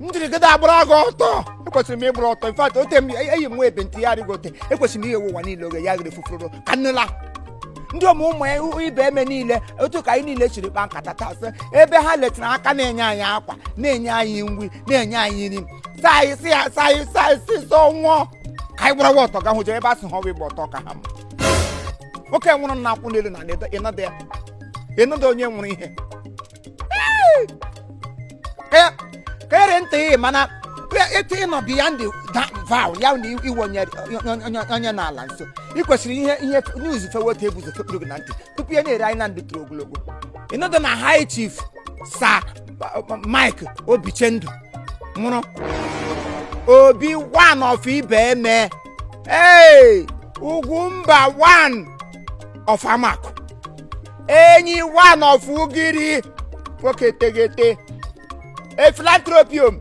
njirigide agbara gị ọtọ ekwesịrị m ịgbara ọtọ in fact ote m eyi m nwa ebe ntị ya arịgo ote ekwesịrị m ihe ụwa niile oge ya gịrị fufuru ka nnụla ndị ụmụ ụmụ ya ihu Ibeme niile otu ka anyị niile chiri kpa nkata taa sị ebe ha letara aka na-enye anyị akwa na-enye anyị uwe na-enye anyị nri saa anyị sị ya saa anyị saa anyị sị sọ nwụọ ka anyị gbarawa ọtọ ga hụ jee ebe a sị ha ọwụ ịgba ọtọ ka ha mma nwoke wụrụ na akwụ n'elu na ịnọdụ ya ịnọdụ onye wụrụ ihe Ka- kere ntị ị mana etu ị nọ beyond that vow ya na iwe onye onye- onye n'ala nso ị kwesịrị ihe ihe news fewe otu ebu ụzọ fepụrụ gị na ntị tupu ya na-ere anyị na ndụ toro ogologo ịnọdụ na high chief Sir Mike Obichendu wụrụ Obi one of Ibeme ee Ugwumba one of Amaku enyi one of Ugiri nwoke tegete a philanthropium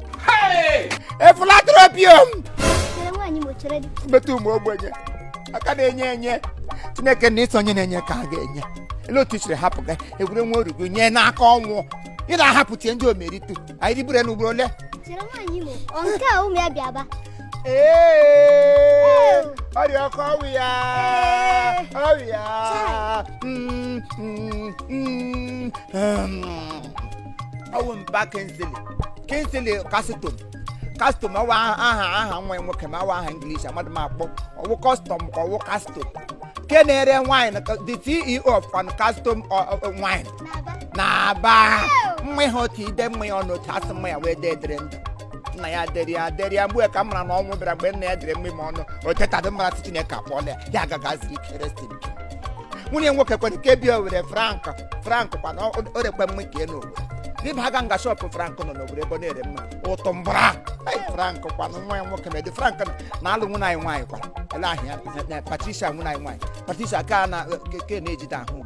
a philanthropium bete ụmụ ogbenye aka na-enye enye Chineke na ị sị onye na-enye ka a ga-enye ele otu i siri hapụ gị egwure nwa orugo nye n'aka ọnwụ ị na-ahapụtie ndị omeritu anyị dịburu ya n'ugboro ole nke a ụmụ ya bịa ba ọrịa ọkụ ọwụ ya ọwụ ya ọwụ mba Kingsley Kingsley custom custom ọwụ aha aha nwa nwoke ma ọwụ aha English amadị m akpọ ọwụ custom ka ọwụ custom nke na-ere wine the ceo of custom wine na-aba mma ihe otu ide mma ya ọnụ otu asị mma ya wee dee dịrị ndụ nna ya dịrị ya dịrị ya mgbe ka m mara na ọnwụ bịara mgbe nna ya dịrị mma ma ọnụ o tetadị mara sị chineke akpọọla ya ya agaghị aziri keresi nke nwunye nwoke kwere ka ebi owere frank frank kwana o rekwe mma ka enu owere dịba aga nga shop frank nọ n'owere ebe ọ na-ere mma ụtụ mbara Ai, frank kwana nwa ya nwoke medi frank na-alụ nwunye anyị nwaanyị kwara ele ahịa patricia nwunye anyị nwaanyị patricia ka na ke na-ejide ahụ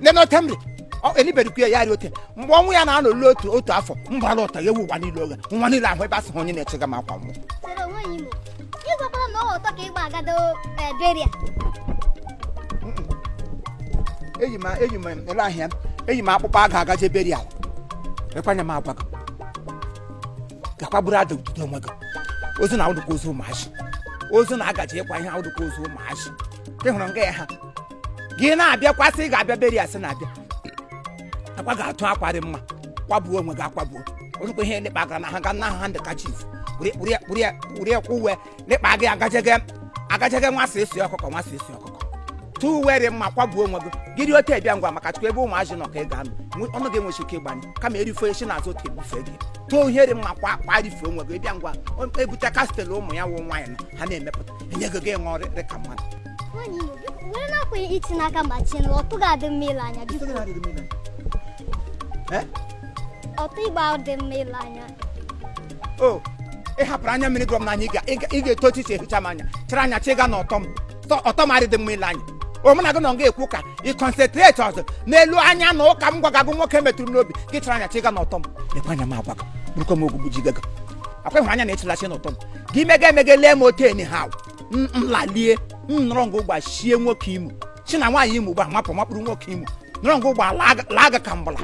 nene ote m dị Ọ- elibedukwu ya ya rị ote mgbe ọnwụ ya na-anọ olu otu otu afọ mbara ụta ya ewu ụwa niile oge nwa niile ahụ ebe a sị ha onye na-echega m akwa nwụọ sere onwe ya imo ịgwakwara na ọ ọtọ ka ịgba agado eh, burial eyi m eyi m ele ahịa eyi m akpụkpọ aga agaje burial ekwanye m agwa gị ga-akwagburu ada ududo onwe gị ozu na awụdụkwa ozu ụmụazị ozu na agaje ịkwa ihe awụdụkwa ozu ụmụazị ịhụrụ nga ya ha gị na-abịakwasị ị ga-abịa burial sị na-abịa akwa ga-atụ akwa dị mma kwagbuo onwe gị akwagbuo orukwa ihe lekpa gara na ha ga na handkerchief were ya kwa uwe lekpa gị agajege agajege nwa sị esi ọkụkọ nwa sị esi ọkụkọ tụ uwe dị mma kwagbuo onwe gị gịrị otu ebịa ngwa maka chukwu ebe ụmụazị nọ ka ị ga-anọ nwe- ọnụ gị enwechi ike ịgbanye kama erife esi na azụ otu ebufe gị tụọ ihe dị mma kwa kwa rife onwe gị ịbịa ngwa o- ebute kastel ụmụ ya wụ nwaanyị nọ ha na-emepụta enye gị gị ṅụọ rị ka mmadụ Nwaanyị Igbo, biko, were na-akwa iti n'aka ma chie na ọtọ ga-adị mma ile anya biko ọtọ igba ahụ dị mma ile anya o ị hapụrụ anya mmiri gụrụ m n'anya ị ga-eto otu isi ehicha m anya chịrị anya chịga na ọtọ m ọtọ m adịdị mma ile anya omena gị na nga ekwu ka ị concentrate ọzọ n'elu anya na ụka m gwaga gị nwoke metụrụ m n'obi gị chịrị anya chịga na ọtọ m lekwa anya m agwa gị bụrụkwa m ogwugwu ji gaga akwa ịhụrụ anya na ịchịlachi na ọtọ m gị mega emega lee m otu enyi ha m m lalie m nọrọ ngụ gbachie nwoke Imo si na nwaanyị Imo gba mapụ makpụrụ nwoke Imo nọrọ ngụ gba laa aga- laa aga ka mgbala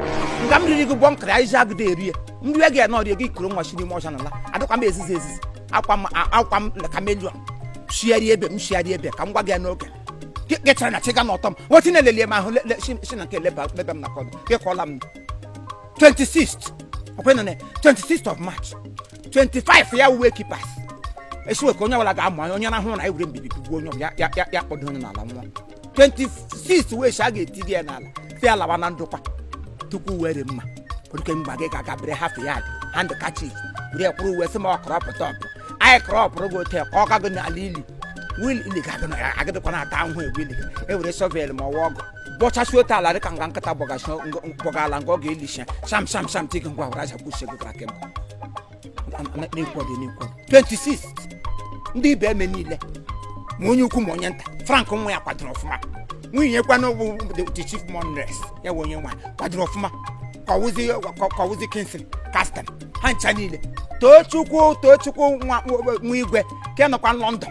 nga m riri gị gbọ nkara ya izi agụda erie nri ya ga-anọ rie gị kuru nwa si n'ime ọcha nala adịkwa m ezizi ezizi akwa m a- akwa m ka mejọ shigharịa ebe m shigharịa ebe ka m gwa gị ya n'oge Gị- gị chọrọ na chịga na ọtọ m nwetị na-elelie m ahụ le- le- si si na nke leba leba m na kọdụ gị kọọla m 26th ọkwa ị nọ na 26th of March 25 ya wụ wake keep esiwe ka onye ọbụla ga-amụ anya onye rahụ ụra anyị were mbibi tigbuo onye ọbụla ya ya ya kpọdo onye n'ala nwa 26 wee si a ga-eti gị ya n'ala si ya lawa na ndokwa tupu were mma oke mgba gị ga-aga bere half yard handkerchief were kwụrụ uwe sị ma ọ kọrọ pụta ọpụ anyị kọrọ ọpụrụ gị ote ka ọ gago n'ala ili wil ili ga-agụ na ya agịdịkwa na-ata ahụhụ egwu ili e were shovel ma ọ wụ ọgụ bọchasị otu ala dị ka nga nkịta bọgasị bọga ala nga ọ ga-elisha sham sham sham tigị ngwa were aja kwuchie gị gwara kemgbe na-ekwu on the na-ekwu on the 26 ndị Ibeme niile ma onye ukwu ma onye nta Frank nwa ya kwadoro ọfụma nwunye kwana bụ the- the chief mourners ya bụ onye nwa kwadoro ọfụma ka ọwụzi ka- ka ọwụzi Kingsley Castan ha ncha niile Tochukwu Tochukwu nwa nwa igwe ka ị nọkwa London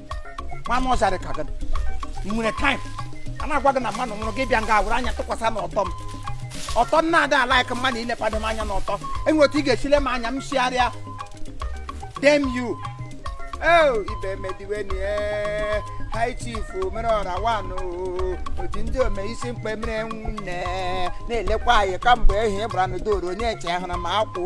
nwa m ọzarị ka gị ị nwere time a na-agwa gị na mmadụ nwụrụ gị bịa nga were anya tụkwasị na ọtọ m ọtọ m na-ada ala ka mmadụ ilepado m anya n'ọtọ enwere otu ị ga-esile m anya m sigharịa dem you oh Ibeme diwenị high chief mere ọra wanụ oji ndị ome isi mkpe mere nwunne na-elekwa anyị kamgbe ehi gbara n'udoro onye eche hụrụ m akwụ